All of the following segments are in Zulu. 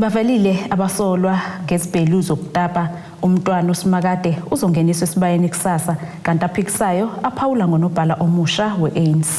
Bavelile abasolwa ngezibhelu zokutapa uMntwana uSimakade uzongeniswa esibayeni kusasa kanti aphikisayo aphawula ngonobhala omusha we-ANC.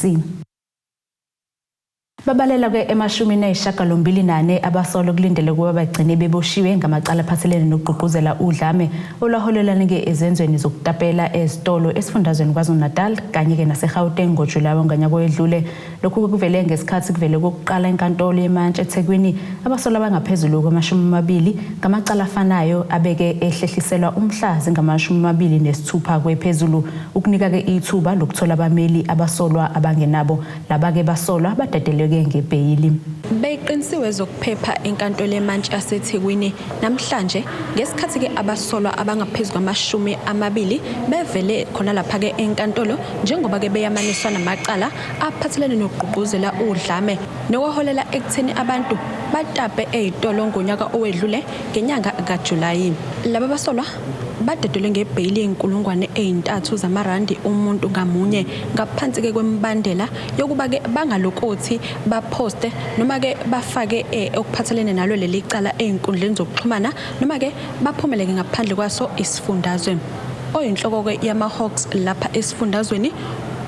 Babalela ke emashumini ayishagalombili nane abasolwa kulindele ukuba bagcine beboshiwe ngamacala aphathelene nokugqugquzela udlame olwaholelanike ezenzweni zokutapela ezitolo esifundazweni KwaZulu-Natal kanye-ke naseGauteng ngoJulayi wangonyaka owedlule Lokhu kuvele ngesikhathi kuvele kokuqala inkantolo yemantshi eThekwini abasolwa abangaphezulu kwamashumi amabili ngamacala afanayo abeke ehlehliselwa umhla zingamashumi amabili nesithupha kwephezulu ukunika-ke ithuba lokuthola abameli abasolwa abangenabo laba-ke basolwa badadeleke ngebheyili. Beyiqinisiwe ezokuphepha enkantolo yemantshi yaseThekwini namhlanje ngesikhathi-ke abasolwa abangaphezu kwamashumi amabili bevele khona lapha-ke enkantolo njengoba-ke beyamaniswa namacala aphathelene nokugqugquzela udlame nokwaholela ekutheni abantu batape ezitolo ngonyaka owedlule ngenyanga kaJulayi. Laba basolwa badedelwe ngebheyili yenkulungwane ezintathu zamarandi umuntu ngamunye ngaphansi ke kwembandela yokuba ke bangalokothi baposte noma ke bafake eh, okuphathelene nalo leli cala ezinkundleni zokuxhumana noma ke baphumeleke ngaphandle kwaso isifundazwe. oyinhloko-ke yamaHawks lapha esifundazweni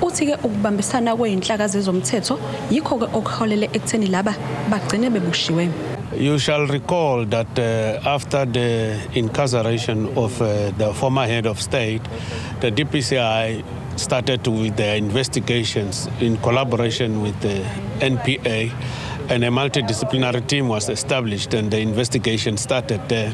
uthi-ke ukubambisana kweyinhlaka zezomthetho yikho-ke okuholele ekutheni laba bagcine beboshiwe You shall recall that uh, after the incarceration of uh, the former head of state, the DPCI started with their investigations in collaboration with the NPA, and a multidisciplinary team was established, and the investigation started there.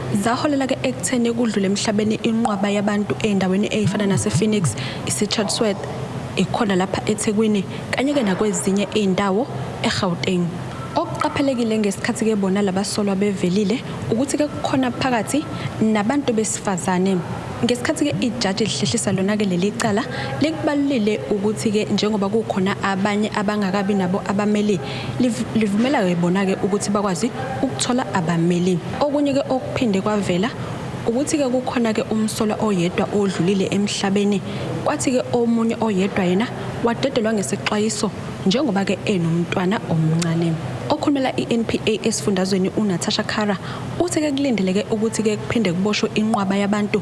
zaholela ke ekutheni kudlule emhlabeni inqwaba yabantu ezindaweni ezifana nasePhoenix, iseChatsworth, ikhona lapha eThekwini kanye ke nakwezinye izindawo eGauteng. Okuqaphelekile ngesikhathi ke bona labasolwa bevelile ukuthi ke kukhona phakathi nabantu besifazane. Ngesikhathi ke ijaji lihlehlisa lona ke leli cala likubalulile ukuthi ke njengoba kukhona abanye abangakabi nabo abameli livumela ke bona ke ukuthi bakwazi ukuthola abameli. Okunye ke okuphinde kwavela ukuthi ke kukhona ke umsolwa oyedwa odlulile emhlabeni kwathi ke omunye oyedwa yena wadedelwa ngesixwayiso njengoba ke enomntwana omncane okhulumela iNPA esifundazweni uNatasha Khara uthe ke kulindeleke ukuthi ke kuphinde kuboshwe inqwaba yabantu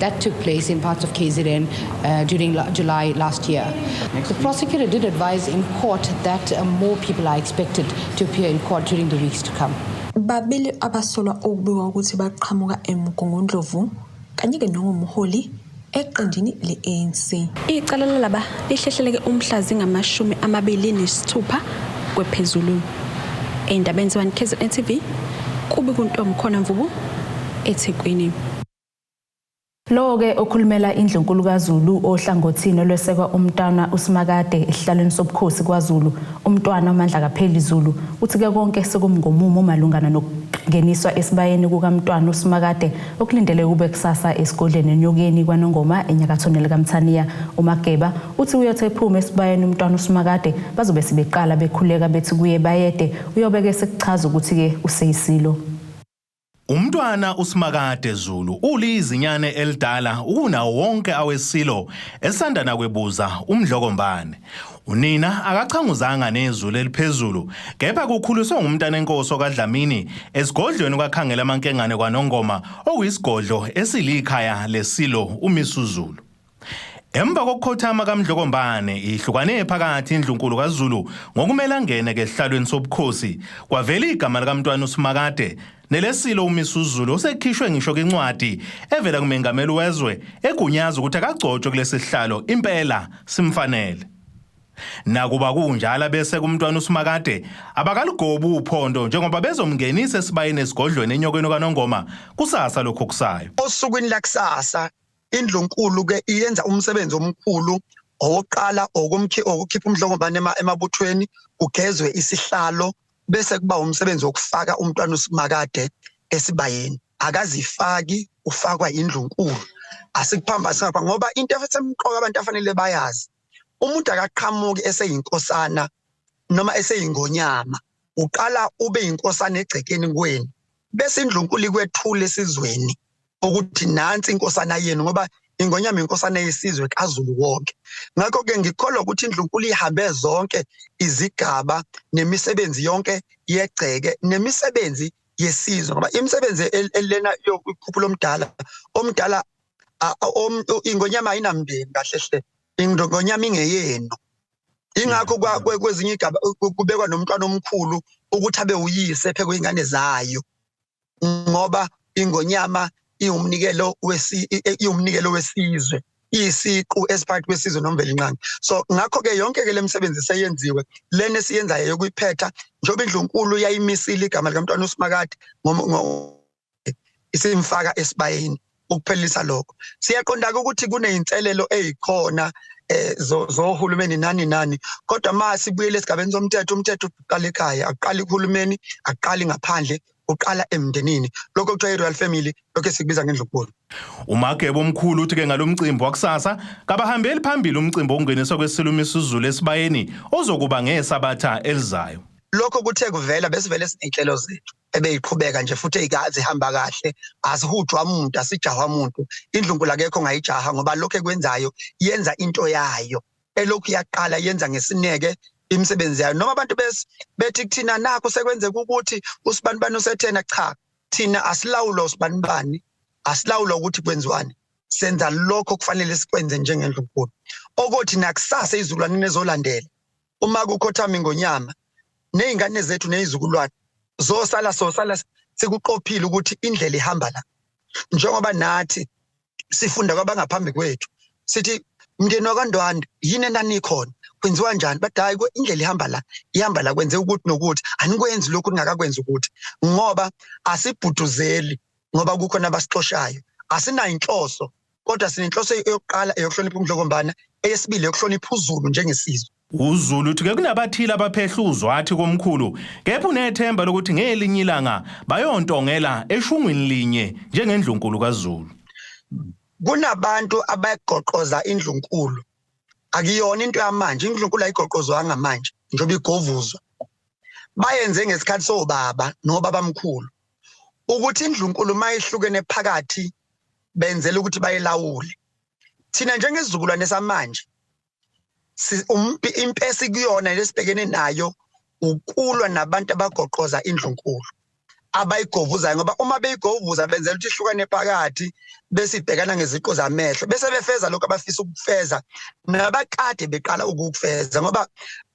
That took place in parts of KZN uh, during la- July last year. Next the prosecutor did advise in court that uh, more people are expected to appear in court during the weeks to come. babili abasolwa okubikwa ukuthi baqhamuka emgungundlovu kanye-ke nongumholi eqenjini le-anc icala lalaba lihlehleleke umhla zingamashumi amabili nesithupha kwephezulu ey'ndabeni zebantu kzn tv kubi kuntomkhona mvubu ethekwini Lowo-ke okhulumela iNdlunkulu kaZulu ohlangothini olwesekwa uMntwana uSimakade esihlalweni sobukhosi kwaZulu, uMntwana uMandlakapheli Zulu, uthi ke konke sekumngomumo malungana nokungeniswa esibayeni kukaMntwana uSimakade okulindeleke kube kusasa esigodleni eNyokeni kwaNongoma eNyakathoni likaMthaniya. UMageba uthi uyothi ephume esibayeni uMntwana uSimakade bazobe sebeqala bekhuleka bethi kuye Bayede, uyobe-ke esekuchaza ukuthi-ke useyiSilo. Umntwana uSimakade Zulu ulizinyane elidala ukunawo wonke awesilo esanda nakwebuza uMdlokombane. Unina akachanguzanga nezulu eliphezulu kepha kukhuliswe ngumntanenkosi okaDlamini esigodlweni kwaKhangela amankengane kwaNongoma okuyisigodlo esilikhaya lesilo uMisuzulu. Emva kokukhothama kaMdlokombane ihlukane phakathi indlunkulu kaZulu ngokumele angene kehlalweni sobukhosi kwavela igama likaMntwana uSimakade nelesilo uMisuzulu osekhishwe ngisho kwincwadi evela kumengameli wezwe egunyaza ukuthi akagcotshwe kulesi sihlalo impela simfanele Nakuba kunjalo bese kumntwana uSimakade abakalugobi uphondo njengoba bezomngenisa esibayeni esigodlweni enyokweni kaNongoma kusasa lokho kusayo. Osukwini lakusasa indlunkulu ke iyenza umsebenzi omkhulu owokuqala okumkhi okukhipha umhlongobane emabuthweni kugezwe isihlalo bese kuba umsebenzi wokufaka umntwana usimakade esibayeni akazifaki ufakwa indlunkulu asikuphamba singapha ngoba into esemqoka abantu afanele bayazi umuntu akaqhamuki eseyinkosana noma eseyingonyama uqala ube inkosana egcekeni kweni bese indlunkulu ikwethula esizweni ukuthi nansi inkosana yenu ngoba ingonyama inkosana yesizwe kaZulu wonke ngakho ke ngikholwa ukuthi indlunkulu ihambe zonke izigaba nemisebenzi yonke yegceke nemisebenzi yesizwe ngoba imisebenzi elena yokukhuphula omdala omdala ingonyama ayinamndeni kahle hle ingonyama ingeyenu ingakho kwezinye igaba kubekwa nomntwana omkhulu ukuthi abe uyise phekwe ingane zayo ngoba ingonyama iwumnikelo wesi iwumnikelo wesizwe isiqu esiphakathi kwesizwe nomvelinqangi so ngakho ke yonke ke lemisebenzi seyenziwe lena esiyenzayo yokuyiphetha njengoba indlunkulu yayimisile igama likamntwana usimakade isimfaka esibayeni ukuphelisa lokho siyaqondaka ukuthi kuneyinselelo ezikhona eh zohulumeni nani nani kodwa uma sibuyele esigabeni somthetho umthetho uqala ekhaya aqala uhulumeni aqali ngaphandle uqala emndenini lokho kuthiwa i-royal family lokho esikubiza ngendlukuboni umagebo omkhulu uthi ke ngalomcimbi wakusasa kabahambeli phambili umcimbi okungeniswa kwesilumi isizulu esibayeni ozokuba ngesabatha elizayo lokho kuthe kuvela besivele siney'nhlelo zethu ebeyiqhubeka nje futhi eyikazi ihamba kahle asihujwa umuntu asijahwa umuntu indlunkulu akekho ngayijaha ngoba lokho ekwenzayo yenza into yayo elokhu yaqala yenza ngesineke imisebenzi yayo noma abantu bethi kuthina nakho sekwenzeka ukuthi usibanibani usethena cha thina asilawulo usibanibani asilawulo ukuthi kwenziwani senza lokho kufanele sikwenze njengendlunkulu okothi nakusasa izulwane nezolandela uma kukhothama ingonyama nezingane zethu nezizukulwane zosala sosala sikuqophile ukuthi indlela ihamba la njengoba nathi sifunda kwabangaphambi kwethu sithi mndeni wakandwanda yini enanikhona kwenziwa njani but hayi indlela ihamba la ihamba la kwenze ukuthi nokuthi anikwenzi lokhu ningakakwenzi ukuthi ngoba asibhuduzeli ngoba kukhona abasixoshayo asinayo inhloso kodwa sinenhloso yokuqala eyokuhlonipha umdlokombana eyesibili yokuhlonipha uzulu njengesizwe UZulu uthi ke kunabathile abaphehla uzwathi komkhulu kepha unethemba lokuthi ngelinye ilanga bayontongela eshungwini linye njengendlunkulu kaZulu. Kunabantu abagoqoza indlunkulu. Akuyona into yamanje, indlunkulu ayigoqozwanga manje njengoba igovuzwa. Bayenze ngesikhathi sobaba nobabamkhulu ukuthi indlunkulu mayihlukene phakathi benzela ukuthi bayilawule thina njengesizukulwane samanje impesi kuyona lesibhekene nayo ukulwa nabantu abagoqoza indlunkulu abayigovuzayo ngoba uma beyigovuza benzela ukuthi ihlukane phakathi bese ibhekana ngeziqo zamehlo bese befeza lokho abafisa ukufeza nabakade beqala ukufeza ngoba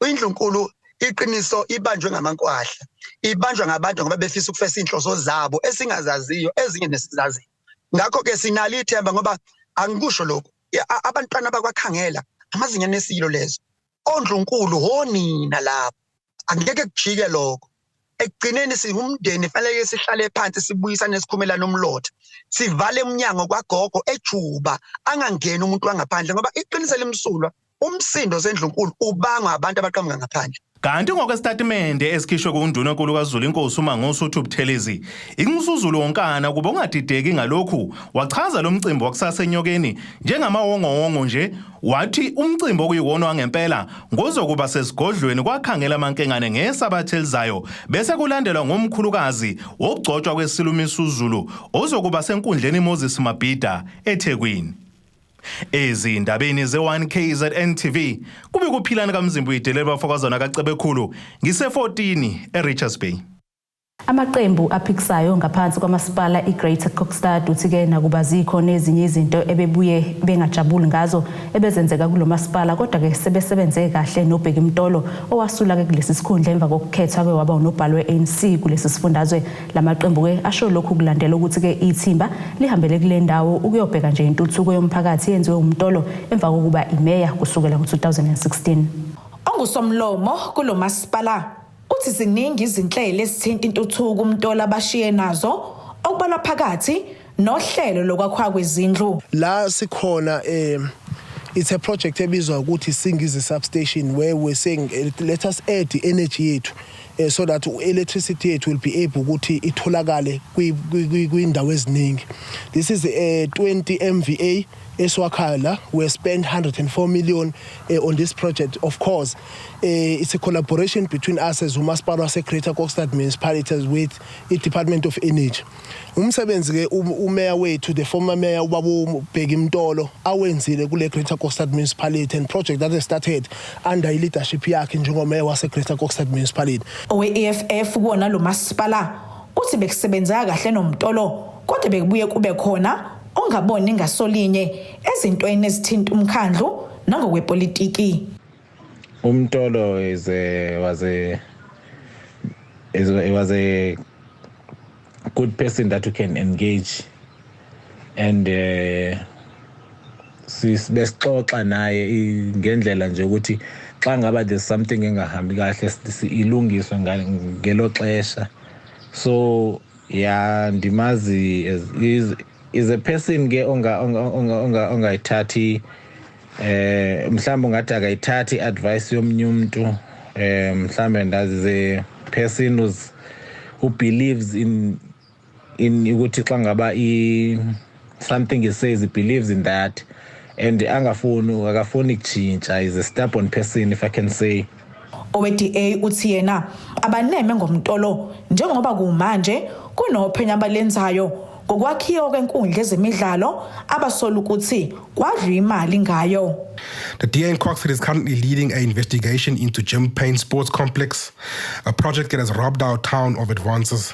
indlunkulu iqiniso ibanjwe ngamankwahla ibanjwa ngabantu ngoba befisa ukufesa inhloso zabo esingazaziyo ezinye nesizaziyo ngakho ke sinalo ithemba ngoba angikusho lokho abantwana bakwakhangela amazinyane esilo lezo ondlunkulu honina lapho angeke kujike lokho ekugcineni siwumndeni fanele sihlale phansi sibuyisane sikhumelana umlotha sivale umnyango kwagogo ejuba angangeni umuntu wangaphandle ngoba iqiniso limsulwa umsindo osendlunkulu ubangwa abantu abaqhamuka ngaphandle Kanti ngokwesitatimende esikhishwe kuNduna Nkulu kaZulu inkosi uMangosi uthi uButhelezi inxusuzulu wonkana kuba ungadideki ngalokhu wachaza lo mcimbi wakusasa enyokeni njengamawongowongo nje wathi umcimbi okuyiwona wangempela ngozokuba sesigodlweni kwakhangela amankengane ngesabatha elizayo bese kulandelwa ngomkhulukazi wokugcotshwa kwesilumisuzulu ozokuba senkundleni Moses Mabhida eThekwini. Ezindabeni ze-1 KZN TV kube kuphilana kaMzimba uyidelele bafokazana kaCebekhulu ngise-14 eRichards Bay. Amaqembu aphikisayo ngaphansi kwamasipala iGreater Kokstad uthi ke nakuba zikho nezinye izinto ebebuye bengajabuli ngazo ebezenzeka kulo masipala kodwa ke sebesebenze kahle noBheki Mtolo owasula ke kulesi sikhundla emva kokukhethwa ke waba unobhala we-ANC kulesi sifundazwe La maqembu-ke asho lokhu kulandela ukuthi-ke ithimba lihambele kule ndawo ukuyobheka nje intuthuko yomphakathi eyenziwe umtolo emva kokuba imeya kusukela ngo-2016. Ongusomlomo kulo masipala uthi ziningi izinhlelo ezithinta intuthuko umtolo abashiye nazo okubalwa phakathi nohlelo lokwakhwa kwezindlu la sikhona eh it's a project ebizwa ukuthi Singizi substation where we're saying eh, let us add the energy yethu eh, so that electricity yethu will be able ukuthi itholakale kwindawo eziningi this is a eh, 20 MVA esiwakhala we spend 104 million uh, on this project of course uh, it's a collaboration between us as umasipala wase-greater kokstad municipalities with i-department of energy Umsebenzi ke uMeya wethu the former mayor ubabu Bheki Mtolo awenzile kule Greater Kokstad Municipality and project that started under i leadership yakhe njengomeya wase Greater Kokstad Municipality. Owe EFF kuwona lo masipala uthi bekusebenzeka kahle noMtolo kodwa bekubuye kube khona ongaboni ngasolinye ezintweni ezithinta umkhandlu nangokwepolitiki. Umtolo is a was a is a, was a good person that you can engage and uh, besixoxa naye ngendlela nje ukuthi xa ngaba there's something engahambi kahle ilungiswe ngelo xesha so ya ndimazi is a person ke onga onga onga ongayithathi eh mhlawumbe ungathi akayithathi advice yomnye umuntu eh mhlawumbe ndazi ze person who's who believes in in ukuthi xa ngaba i something he says he believes in that and angafuni akafuni kutshintsha is a stubborn person if i can say Owe-DA uthi yena abaneme ngomtolo njengoba kumanje kunophenyo abalenzayo ngokwakhiwa kwenkundla ezemidlalo abasola ukuthi kwadlwa imali ngayo. The DA in Croxford is currently leading an investigation into Jim Payne Sports Complex, a project that has robbed our town of advances.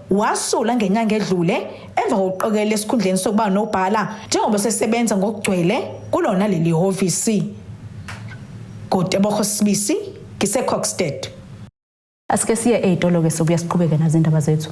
Wasula ngenyanga edlule emva kokuqokelela esikhundleni sokuba nobhala njengoba sesebenza ngokugcwele kulona leli hhovisi. Godebogo Sibisi, ngiseCoxted. Asike siye ey'tolo-ke sobuya siqhubeke nazo indaba zethu.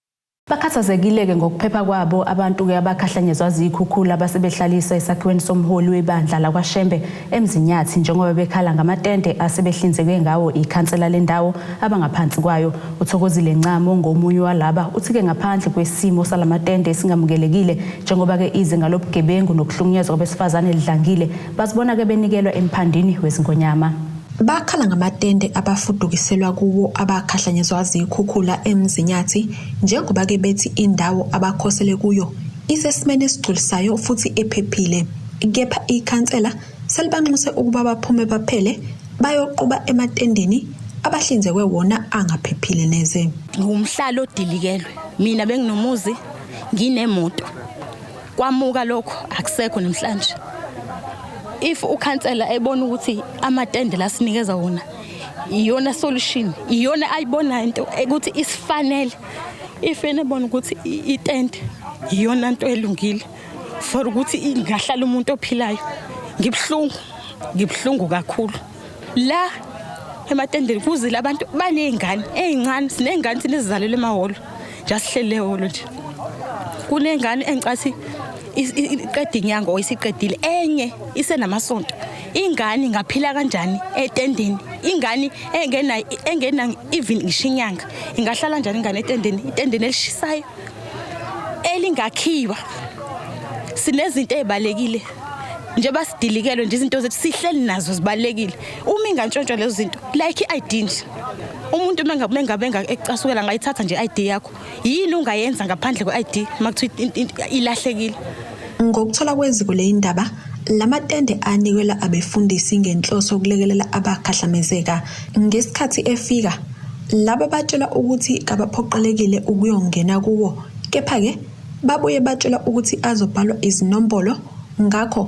Bakhathazekile-ke ngokuphepha kwabo abantu-ke abakhahlanyezwa ziyikhukhula base behlalisa esakhiweni somholi webandla lakwaShembe eMzinyathi njengoba bekhala ngamatende asebehlinzekwe ngawo ikhansela lendawo abangaphansi kwayo. UThokozile Ncamo ongomunye walaba uthi-ke ngaphandle kwesimo salamatende esingamukelekile njengoba-ke izinga lobugebengu nokuhlukunyezwa kwabesifazane lidlangile bazibona-ke benikelwa emphandini wezingonyama. Bakhala ngamatende abafudukiselwa kuwo abakhahlanyezwa ziyikhukhula eMzinyathi njengoba ke bethi indawo abakhosele kuyo isesimeni esigculisayo futhi ephephile. Kepha ikhansela selibanxuse ukuba baphume baphele bayoquba ematendeni abahlinzekwe wona angaphephile neze. Ngumhlalo odilikelwe. Mina benginomuzi nginemoto. Kwamuka lokho akusekho namhlanje. If ukhansela ebona ukuthi amatende lasinikeza wona iyona solution, iyona ayibona into ukuthi isifanele. If enebona ukuthi itende iyona into elungile for ukuthi ingahlala umuntu ophilayo. Ngibuhlungu, ngibuhlungu kakhulu. la ematendeni kuzile abantu baney'ngane ey'ncane siney'ngane thina ezizalelwe emahholo nja sihlele ehholo nje kunengane engicathi iqeda inyanga or isiqedile enye isenamasonto ingane ingaphila kanjani etendeni ingane engena engena even ngisho inyanga ingahlala njani ingane etendeni itendeni elishisayo elingakhiwa sinezinto ezibalekile njengoba sidilikelwe nje izinto zethu sihleli nazo zibalekile uma ingantshontsha lezo zinto like i-id nje umuntu mengabe ecasukela ngayithatha nje i-id yakho yini ungayenza ngaphandle kwe-id uma kuthiwa ilahlekile ngokuthola kweziko leyi ndaba la matende anikelwa abefundisi ngenhloso yokulekelela abakhahlamezeka ngesikhathi efika laba batshelwa ukuthi kabaphoqelekile ukuyongena kuwo kepha-ke Babuye batshela ukuthi azobhalwa izinombolo ngakho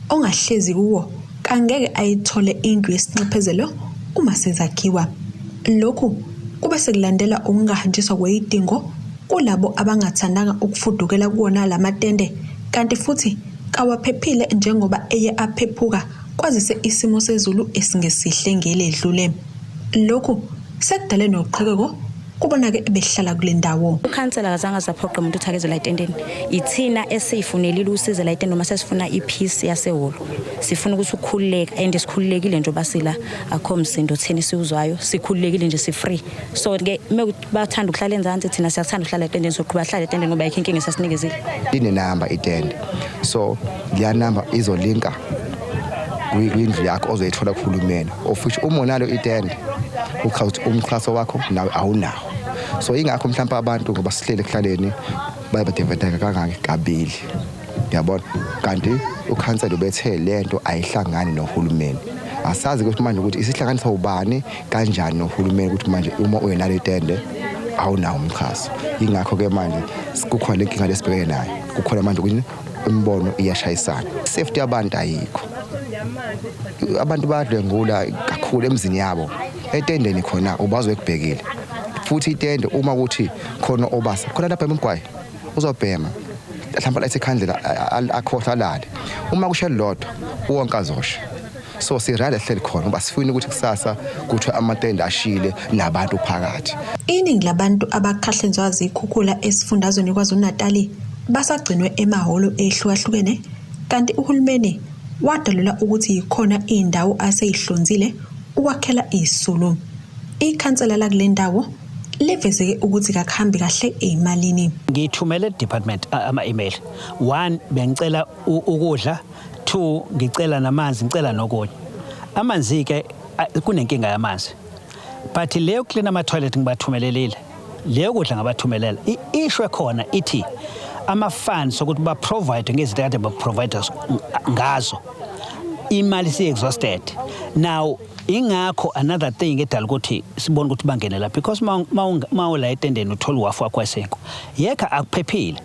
ongahlezi kuwo kangeke ayithole indlu yesinxephezelo uma sezakhiwa. Lokhu kube sekulandela ukungahanjiswa kweyidingo kulabo abangathandanga ukufudukela kuwona la matende kanti futhi kawaphephile njengoba eye aphephuka kwazise isimo sezulu esingesihle ngeledlule. Lokhu sekudale noqhekeko kubona-ke ebehlala kule ndawo ukhansela kazange azaphoqe umuntu ukuthi akezela etendeni ithina esiyifunelile usize la itende uma sesifuna i-peace yasehholo sifuna ukuthi ukukhululeka and sikhululekile nje obasila akho msindo thina esiwuzwayo sikhululekile nje si-free so-ke bathanda ukuhlala enzansi thina siyakuthanda ukuhlala etendeni soqhuba hlala etendeni ngoba yikho inkinga esasinikezile inenamba itende so leya namba izolinka kwindlu yakho ozoyithola kuhulumeni of which uma unalo itende uchaza ukuthi umxhaso wakho nawe awunawo so ingakho mhlawumbe abantu ngoba sihlele ekuhlaleni baye badevedeka kangaki kabili yabona kanti ukhansela ubethe lento ayihlangani nohulumeni asazi ukuthi manje ukuthi isihlanganisa ubani kanjani nohulumeni ukuthi manje uma uyenalo itende awunawo umxhaso yingakho-ke manje kukhona le nkinga lesibhekene nayo kukhona manje ukuthi imibono iyashayisana safety yabantu ayikho abantu bayadlwengula kakhulu emzini yabo etendeni khona ubazi wekubhekile futhi itende uma ukuthi khona obasa khona lapha emgwayi uzobhema mhlawumbe lathi ikhandlela akhohla lale uma kushe lodwa wonke azosha so sirayile ehleli khona uba sifuna ukuthi kusasa kuthiwe amatende ashile nabantu phakathi iningi labantu abakhahlenzwa zikhukhula esifundazweni kwazulu-natali basagcinwe emahholo ehlukahlukene kanti uhulumeni wadalula ukuthi yikhona iy'ndawo aseyihlonzile ukwakhela izisulu ikhansela lakule ndawo livezeke ukuthi kakuhambi kahle eyimalini ngithumele department ama-email one bengicela ukudla Two, ngicela namanzi, ngicela nokunye. Amanzi-ke kunenkinga yamanzi. But le yokuklina ama-toilet ngibathumelelile. Le yokudla ngabathumelela. I-issue ekhona ithi ama-funds okuthi ba-provide ngezinto kade ba-provide ngazo. Imali siyi-exhausted. Now ingakho another thing edala ukuthi sibone ukuthi bangene la because uma ula etendeni uthola uwafu wakho esekho. Yekha akuphephile.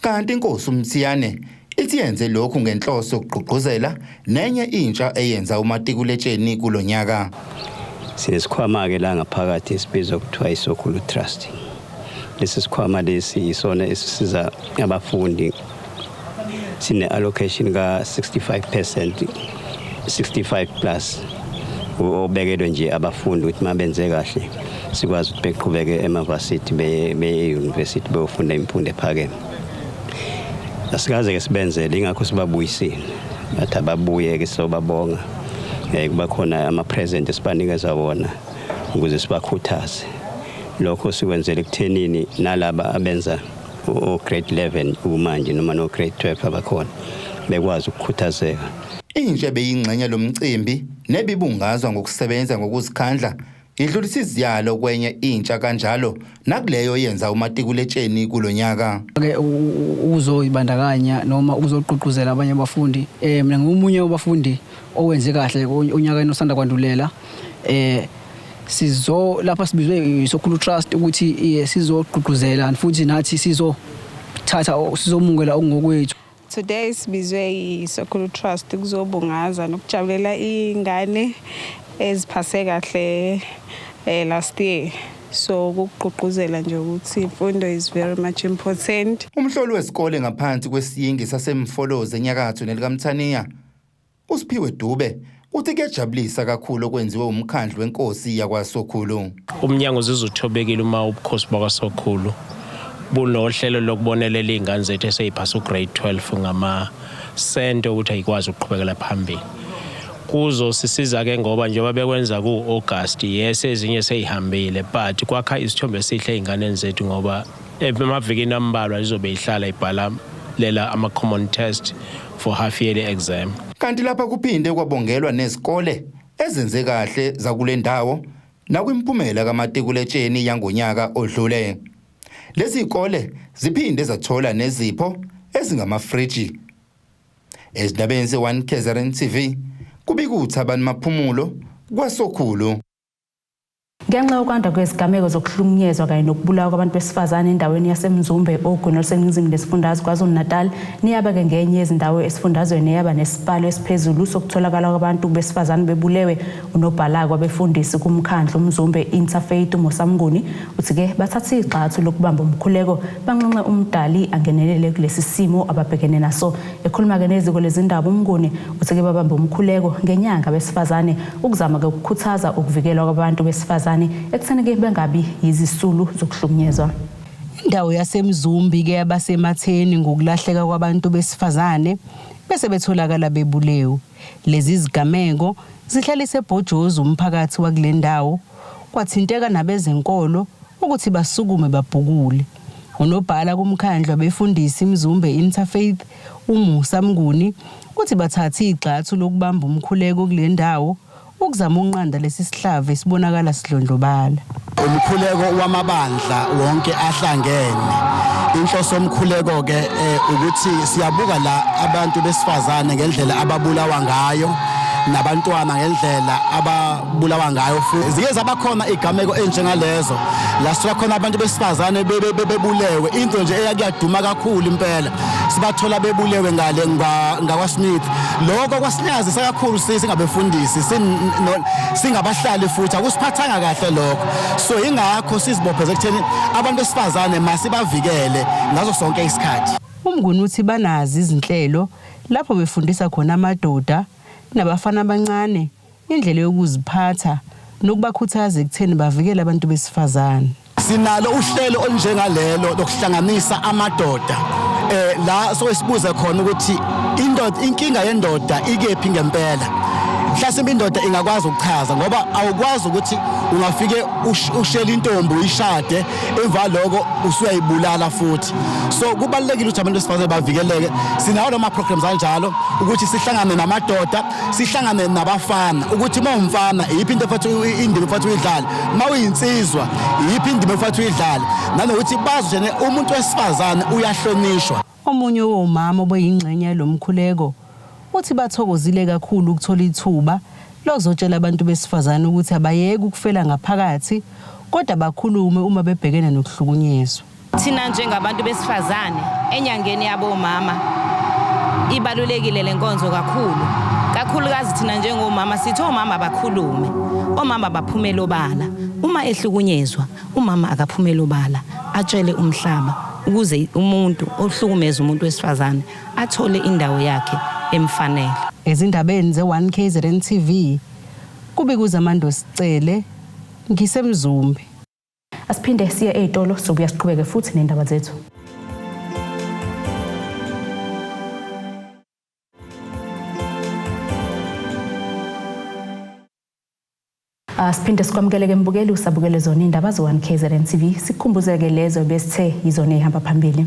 Kanti inkosi uMthiyane ithi yenze lokhu ngenhloso yokugqugquzela nenye intsha eyenza umatikuletsheni kulo nyaka. Sinesikhwama-ke la ngaphakathi esibizwa kuthiwa iSokhulu Trust. Lesi sikhwama lesi yisona esisiza abafundi sine-allocation ka-65 percent 65 plus obekelwe nje abafundi ukuthi uma benze kahle sikwazi ukuthi beqhubeke emavasithi beye-university beyofunda imfundo ephakeme asikaze-ke sibenzele ingakho sibabuyisile ngathi ababuye-ke sobabonga um eh, kuba khona ama-present esibanikeza wona ukuze sibakhuthaze lokho sikwenzela ekuthenini nalaba abenza o-grade 11 kumanje noma no-grade 12 abakhona bekwazi ukukhuthazeka intsha beyingxenye lomcimbi nebibungazwa ngokusebenza ngokuzikhandla idlulisa iziyalo kwenye intsha kanjalo nakuleyo yenza umatikuletsheni kulo nyaka ke ukuzoyibandakanya noma ukuzogqugquzela abanye abafundi eh mina ngiwumunye wabafundi owenze kahle onyakeni osanda kwandulela eh sizo lapha sibizwe yiSokhulu Trust ukuthi eh, sizogqugquzela futhi nathi sizothatha o- sizomukela okungokwethu Today sibizwe yiSokhulu Trust ukuzobungaza nokujabulela ingane eziphase kahle eh, last year. So ukugqugquzela nje ukuthi imfundo is very much important. Umhloli wesikole ngaphansi kwesiyingi saseMfolozi enyakatho nelikamthaniya USphiwe Dube uthi kuyajabulisa kakhulu okwenziwe umkhandlu wenkosi yakwaSokhulu. Umnyango uzizwa uthobekile uma ubukhosi bakwaSokhulu bunohlelo lokubonelela iy'ngane zethu eseyiphasa ugrade 12 ngamasente ukuthi ayikwazi ukuqhubekela phambili kuzosisiza-ke ngoba njengoba bekwenza ku-agasti yes ezinye seyihambile but kwakha isithombe esihle ey'nganeni zethu ngoba Emavikini ambalwa izobe ihlala ibhala lela ama-common test for half yearly exam. Kanti lapha kuphinde kwabongelwa nezikole ezenze kahle zakule ndawo nakwimphumela kamatikuletsheni yangonyaka odlule. Lezi zikole ziphinde zathola nezipho ezingamafriji. Ezindabeni ze-1 KZN TV, kubika uThabani Maphumulo kwaSokhulu. Ngenxa yokwanda kwezigameko zokuhlukunyezwa kanye nokubulawa kwabantu besifazane endaweni yaseMzumbe ogwini oluseningizimu lesifundazwe KwaZulu-Natal, niyaba ke ngenye yezindawo esifundazweni eyaba nesibalo esiphezulu sokutholakala kwabantu besifazane bebulewe. Unobhalakwa befundisi kumkhandlu uMzumbe Interfaith uMusa Mnguni uthi ke bathathe igxathu lokubamba umkhuleko banxenxe uMdali angenelele kulesi simo ababhekene naso. Ekhuluma ke neziko lezindaba uMnguni uthi ke babambe umkhuleko ngenyanga besifazane ukuzama-ke ukukhuthaza ukuvikelwa kwabantu besifazane ekutheni-ke bengabi yizisulu zokuhlukunyezwa. Indawo yaseMzumbi ke yaba sematheni ngokulahleka kwabantu besifazane bese betholakala bebulewe. Lezi zigameko zihlalise ebhojozi umphakathi wakule ndawo, kwathinteka nabezenkolo ukuthi basukume babhukule. Unobhala kumkhandlu abefundisi iMzumbe Interfaith, uMusa Mnguni, uthi bathathe igxathu lokubamba umkhuleko kule ndawo ukuzama ukunqanda lesi sihlava esibonakala sidlondlobala. Umkhuleko wamabandla wonke ahlangene. Inhloso yomkhuleko-ke eh, ukuthi siyabuka la abantu besifazane ngendlela ababulawa ngayo nabantwana ngendlela ababulawa ngayo futhi ziye zaba khona igameko enjengalezo la sithola khona abantu besifazane bebulewe into nje eyakuyaduma kakhulu impela sibathola bebulewe ngale ngakwaSmith lokho kwasinyazisa kakhulu singabefundisi singabahlali futhi akusiphathanga kahle lokho so ingakho sizibopheze ekutheni abantu besifazane masibavikele ngaso sonke isikhathi umnguni uthi banazi izinhlelo lapho befundisa khona amadoda nabafana abancane indlela yokuziphatha nokubakhuthaza ekutheni bavikele abantu besifazane. Sinalo uhlelo olunjengalelo lokuhlanganisa amadoda eh la soke sibuze khona ukuthi indoda inkinga yendoda ikephi ngempela mhlasimbe indoda ingakwazi ukuchaza ngoba awukwazi ukuthi ungafike ushele intombi uyishade emva lokho usuyayibulala futhi so kubalekile ukuthi abantu besifazane bavikeleke sinawo lama programs anjalo ukuthi sihlangane namadoda sihlangane nabafana ukuthi uma umfana iyiphi into efathi indima efathi uyidlale uma uyinsizwa iyiphi indima efathi uyidlale nanokuthi bazi ukuthi umuntu wesifazane uyahlonishwa omunye womama obeyingxenye yalomkhuleko uthi bathokozile kakhulu ukuthola ithuba lozotshela abantu besifazane ukuthi abayeke ukufela ngaphakathi kodwa bakhulume uma bebhekene nokuhlukunyezwa Thina njengabantu besifazane enyangeni yabomama ibalulekile le nkonzo kakhulu kakhulukazi thina njengomama sithi omama bakhulume omama baphumele obala uma ehlukunyezwa umama akaphumele obala atshele umhlaba ukuze umuntu ohlukumeza umuntu wesifazane athole indawo yakhe emfanele ezindabeni ze-1 kzn tv kubikuza amandosi cele ngisemzumbe Asiphinde siye ezitolo sobuya siqhubeke futhi nendaba zethu. Ah, siphinde sikwamukeleke mbukeli usabukele zona indaba zo-1 KZN TV sikukhumbuzeke lezo besithe yizona eyihamba phambili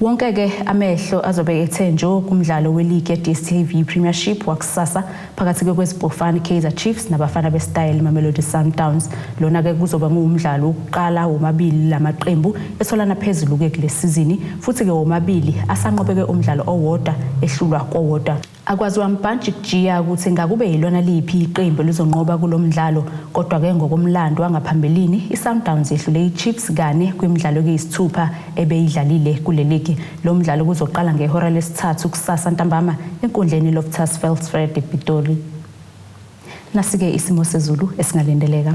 Wonke-ke amehlo azobe ethe njo kumdlalo weligi ye-DStv Premiership wakusasa phakathi kweKwezipofana iKaizer Chiefs nabafana besitayela iMamelodi Sundowns. Lona-ke kuzobe kuwumdlalo wokuqala womabili la maqembu etholana phezulu-ke kule sizini futhi-ke womabili asanqobeke umdlalo owodwa ehlulwa kowodwa. Akwaziwa mbhantshi kujiya ukuthi ngakube yilona liphi iqembu elizonqoba kulo mdlalo kodwa ke ngokomlando wangaphambilini iSundowns yehlule iChiefs kane kwimidlalo ekuyisithupha ebeyidlalile kule ligi. Lo mdlalo kuzoqala ngehora lesithathu kusasa ntambama enkundleni iLoftus Veldspruit ePitoli. Nasike isimo sezulu esingalindeleka.